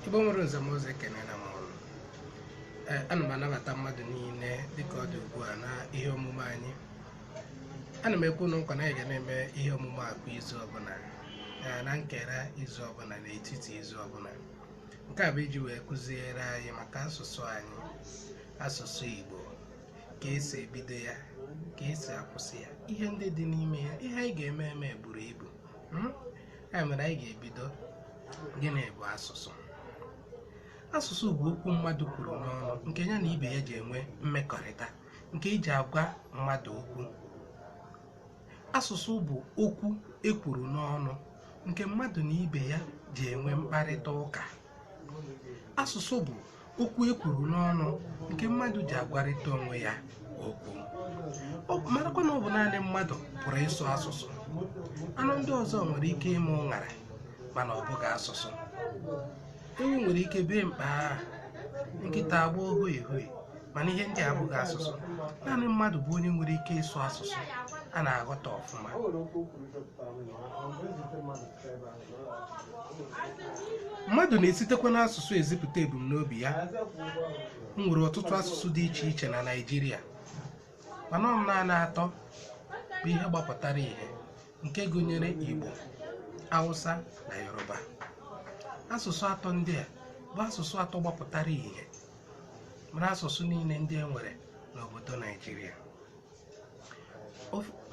igbo nwere nze na ọzọ ekenela m unu Ee, ana m anabata mmadụ niile dịka ọ dị ugbu a na ihe omume anyị ana m ekwe unu nkwa na anyị ga na-eme ihe omume a kwa izu ọbụla ee, na nkera izu ọbụla na etiti izu ọbụla nke a bụ iji wee kụziere anyị maka asụsụ anyị asụsụ igbo ka esi ebido ya ka esi akwụsị ya ihe ndị dị n'ime ya ihe anyị ga-eme eme buru ibu Hmm? ya mere anyị ga-ebido gịnị bụ asụsụ asụsụ bụ okwu mmadụ kwuru n'ọnụ nke ya na ibe ya ji enwe mmekọrịta nke e ji agwa mmadụ okwu asụsụ bụ okwu ekwuru n'ọnụ nke mmadụ na ibe ya ji enwe mkparịta ụka asụsụ bụ okwu e kwuru n'ọnụ nke mmadụ ji agwarịta onwe ya okwu Ọ bụ- marakwa na ọ bụ naanị mmadụ pụrụ ịsụ asụsụ anụ ndị ọzọ nwere ike ime ụṅara mana ọ bụghị asụsụ ewu nwere ike bee mkpaa nkịta agba ohu ehue mana ihe ndị a abụghị asụsụ naanị mmadụ bụ onye nwere ike ịsụ asụsụ a na-aghọta ọfụma mmadụ na-esitekwa n'asụsụ ezipụta ebumnobi ya e nwere ọtụtụ asụsụ dị iche iche na Naịjirịa mana ọ bụ naanị atọ bụ ihe gbapụtara ihe nke gụnyere Igbo Hausa na Yoruba asụsụ atọ ndị a bụ asụsụ atọ gbapụtara ihe mara asụsụ niile ndị e nwere n'obodo Naịjirịa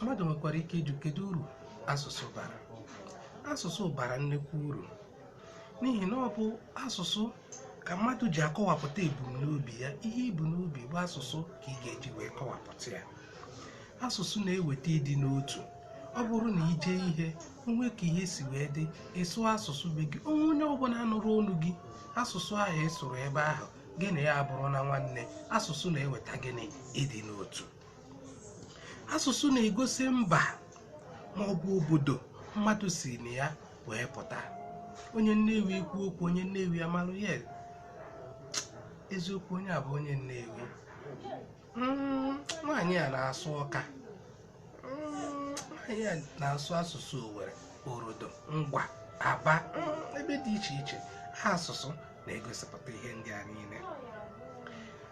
mmadụ nwekwara ike ịjụ kedu uru asụsụ bara asụsụ bara nnukwu uru n'ihi na ọ bụ asụsụ ka mmadụ ji akọwapụta ebumnobi ya ihe i bu n'obi bụ asụsụ ka ị ga-eji wee kọwapụta ya asụsụ na-eweta ịdị n'otu ọ bụrụ na i jee ihe o nwee ka ihe si wee dị ị sụọ asụsụ be gị o nwee onye ọbụla nụrụ olu gị asụsụ ahụ ị sụrụ ebe ahụ gị na ya abụrụla nwanne asụsụ na-eweta gịnị ịdị n'otu asụsụ na-egosi mba ma ọ bụ obodo mmadụ si na ya wee pụta onye nnewi kwuo okwu onye nnewi amalụ ya eziokwu onye a bụ onye nnewi Mm, nwaanyị a na-asụ ọka Mm, nwaanyị a na-asụ asụsụ owere orodo ngwa aba mm, ebe dị iche iche asụsụ na-egosipụta ihe ndị a niile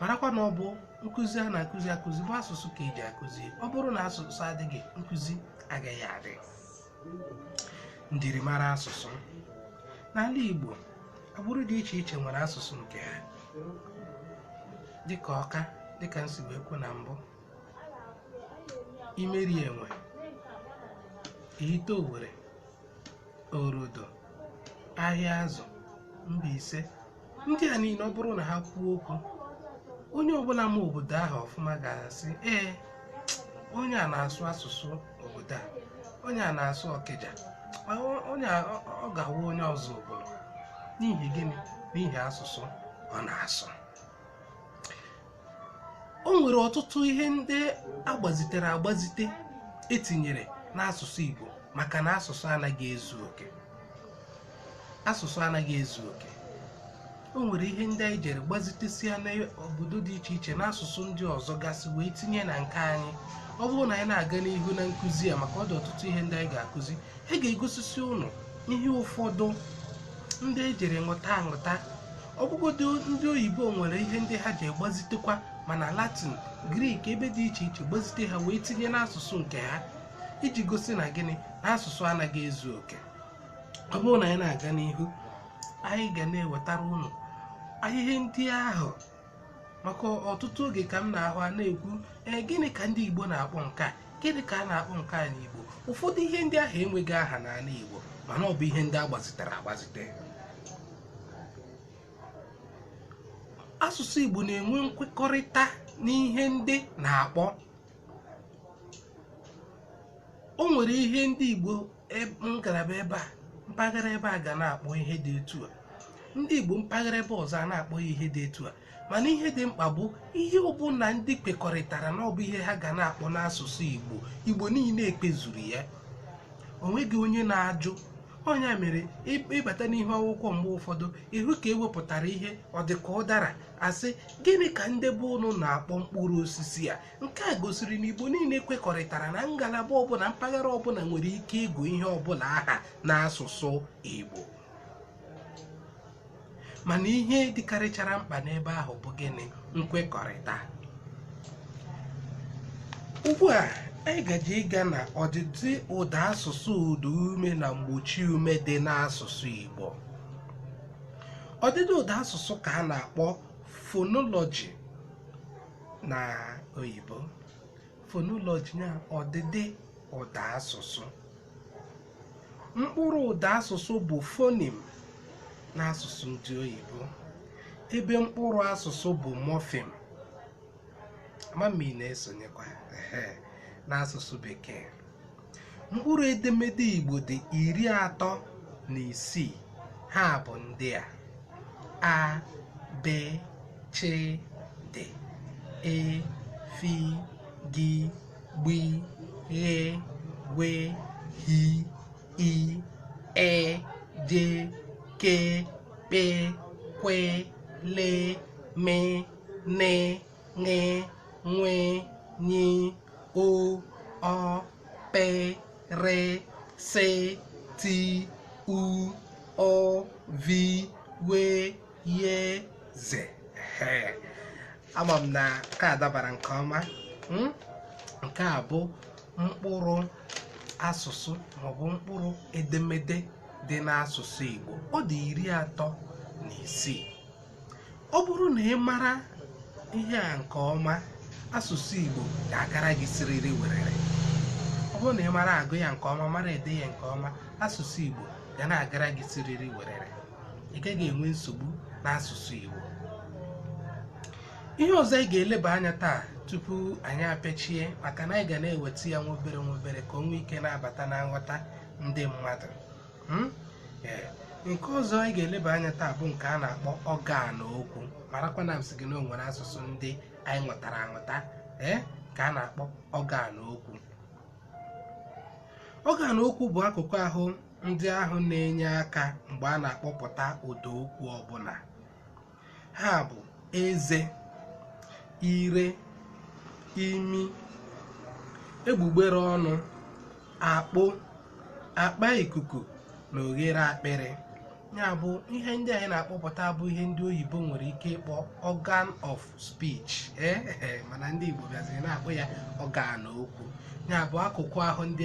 marakwa na ọ bụ nkụzi a na-akụzi akụzi bụ asụsụ ka eji akụzi ọ bụrụ na asụsụ adịghị nkụzi agaghị adị njirimara asụsụ n'ala Igbo agbụrụ dị iche iche nwere asụsụ nke ha dịka ọka dịka m si wee kwu na mbụ imerienwe ihite owere orodo ahịazụ mbaise ndị a niile ọ bụrụ na ha kwuo okwu onye ọbụla ma obodo ahụ ọfụma ga-asị ee onye a na-asụ asụsụ obodo a onye a na-asụ ọkịja ma ọ- onye a ọ- ọ ga-awụ onye ọzụbụlụ n'ihi gịnị n'ihi asụsụ ọ na-asụ o nwere ọtụtụ ihe ndị agbazitere agbazite etinyere n'asụsụ Igbo maka na asụsụ anaghị ezu oke asụsụ anaghị ezu oke o nwere ihe ndị anyị jere gbazitesia n'obodo dị iche iche n'asụsụ ndị ọzọ gasị wee tinye na nke anyị ọ bụrụ na anyị na-aga n'ihu na nkụzi a maka ọ dị ọtụtụ ihe ndị anyị ga-akụzi e ga-egosisi ụnụ ihe ụfọdụ ndị ejere ṅụta aṅụta ọbụgodo ndị oyibo nwere ihe ndị ha je gbazitekwa ma na latin grik ebe dị iche iche gbazite ha wee tinye n'asụsụ nke ha iji gosi na gịnị na asụsụ anaghị ezu oke ọ bụrụ na anyị na-aga n'ihu anyị ga na-ewetara ụnụ ihe ndị ahụ maka ọtụtụ oge ka m na-ahụ a na-ekwu ee gịnị ka ndị igbo na-akpọ nke a gịnị ka a na-akpọ nke a n'igbo ụfọdụ ihe ndị ahụ enweghị aha n'ala igbo mana ọ bụ ihe ndị agbazitere agbazite asụsụ igbo na-enwe nkwekọrịta n'ihe ndị na-akpọ o nwere ihe ndị igbo eb- ngalaba ebe a mpaghara ebe a ga na-akpọ ihe dị etu a ndị igbo mpaghara ebe ọzọ a na-akpọ ya ihe dị etu a mana ihe dị mkpa bụ ihe ọbụla ndị kwekọrịtara na ọ bụ ihe ha ga na-akpọ n'asụsụ igbo igbo niile ekwezuru ya onweghị onye na-ajụ onye mere ị- ịbata n'ihu akwụkwọ mgbe ụfọdụ ịhụ ka ewepụtara ihe ọ dị ka ụdara asị gịnị ka ndị be ụnụ na-akpọ mkpụrụ osisi a nke a gosiri na igbo niile kwekọrịtara na ngalaba ọbụla mpaghara ọbụla nwere ike ịgụ ihe ọbụla aha n'asụsụ igbo mana ihe dịkarịchara mkpa n'ebe ahụ bụ gịnị nkwekọrịta ugbu a anyị gaje ịga na ọdịdị ụda asụsụ ụda ume na mgbochi ume dị n'asụsụ igbo ọdịdị ụda asụsụ ka a na-akpọ fonoloji na oyibo fonoloji na ọdịdị ụda asụsụ mkpụrụ ụda asụsụ bụ fonim n'asụsụ ndị oyibo ebe mkpụrụ asụsụ bụ mọfim ama m ma ị na-esonyekwa ehe, n'asụsụ bekee mkpụrụ edemede igbo dị iri atọ na isii ha bụ ndị a a b ch d e f g gb ghe gwe hi i ị j k kp kwe le me ne ṅị nwị nyi o ọ pị rị sị ti u ụ vi we ye ze Ehe. ama m na nke a dabara nke ọma Mm? nke a bụ mkpụrụ asụsụ maọbụ mkpụrụ edemede dị n'asụsụ Igbo ọ dị iri atọ na isii ọ bụrụ na ị mara ihe a nke ọma asụsụ Igbo ga-agara gị siriri werere ọ bụrụ na ị mara agụ ya nke ọma mara ede ya nke ọma asụsụ Igbo ga na-agara gị siriri werere ị gaghị enwe nsogbu n'asụsụ Igbo ihe ọzọ anyị ga-eleba anya taa tupu anyị apechie maka na anyị ga na-eweta ya nwa obere nwa obere ka o nwee ike na-abata na nghọta ndị mmadụ hmm? eh, nke ọzọ anyị ga-eleba anya taa bụ nke a na-akpọ ọgan okwu marakwa na m sị gị na o nwere asụsụ ndị anyị nwụtara anwụta ee eh, nke a na-akpọ ọgan okwu ọgan okwu bụ akụkụ ahụ ndị ahụ na-enye aka mgbe a na-akpọpụta ụda okwu ọbụla ha bụ eze ire imi egbugbere ọnụ akpo akpa ikuku na oghere akpịrị ya bụ ihe ndị anyị na-akpọpụta bụ ihe ndị oyibo nwere ike ịkpọ organ of speech ee eh, eh, mana ndị Igbo bịaziri na-akpọ ya ọgan okwu ya bụ akụkụ ahụ ndị